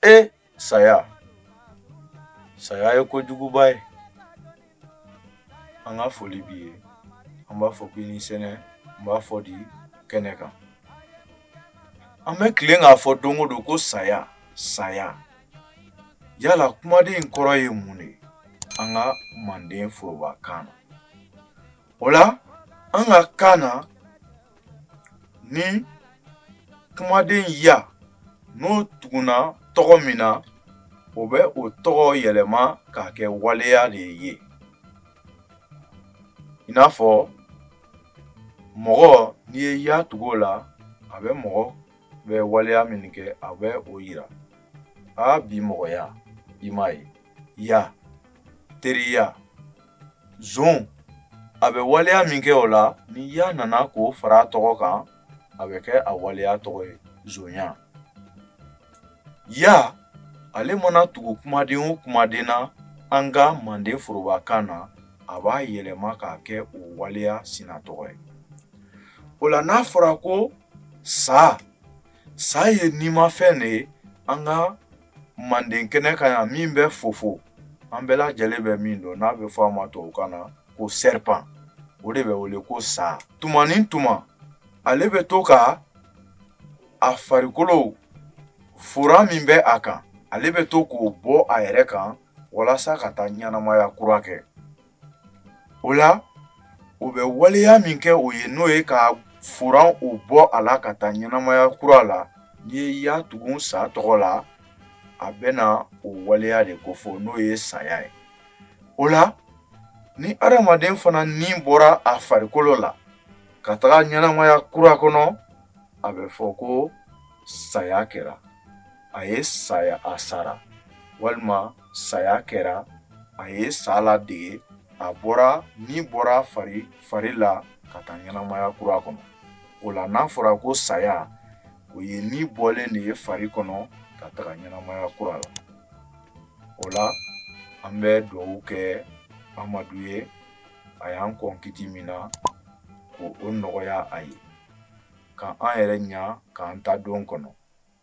ee saya saya ye kojuguba ye an ka foli b'i ye an b'a fɔ k'i ni sɛnɛ an b'a fɔ di kɛnɛ kan an bɛ tilen k'a fɔ don o don ko saya saya yala kumaden in kɔrɔ ye mun de ye an ka manden forobakan na o la an ka kan na Ni kumaden ya n'o tugunna tɔgɔ min na o bɛ o tɔgɔ yɛlɛma k'a kɛ waleya de ye i n'a fɔ mɔgɔ n'i ye ya tugu o la a bɛ mɔgɔ bɛ waleya min kɛ a bɛ o yira aa bi mɔgɔya i m'a ye ya teriya Zon a bɛ waleya min kɛ o la ni ya nana k'o fara a tɔgɔ kan a bɛ kɛ a waleya tɔgɔ ye zonya ya ale mana tugu kumaden o kumaden na an ka manden forobakan na a b'a yɛlɛma k'a kɛ o waleya sina tɔgɔ ye o la n'a fɔra ko sa Sa ye nimafɛn de ye an ka manden kɛnɛ kan yan min bɛ fofo an bɛɛ lajɛlen bɛ min dɔn n'a bɛ fɔ a ma tubabukan na ko serpent o de bɛ wele ko sa tuma ni tuma ale bɛ to ka a farikolo fura min bɛ a kan ale bɛ to k'o bɔ a yɛrɛ kan walasa ka taa ɲɛnamaya kura kɛ O la o bɛ waleya min kɛ o ye n'o ye k'a furan o bɔ a la ka taa ɲɛnamaya kura la n'i ye ya tugun sa tɔgɔ la a bɛ na o waleya de kofɔ n'o ye saya ye o la ni adamaden fana ni bɔra a farikolo la ka taga ɲɛnamaya kura kɔnɔ a bɛ fɔ ko saya kɛra a ye saya a sara walima saya kɛra a ye sa ladege a bɔra ni bɔra fari fari la ka taa ɲɛnamaya kura kɔnɔ o la n'a fɔra ko saya o ye ni bɔlen de ye fari kɔnɔ ka taga ɲɛnamaya kura la o la an bɛ dugawu kɛ amadu ye a y'an kɔn kiti min na k'o nɔgɔya a ye ka an yɛrɛ ɲa k'an ta don kɔnɔ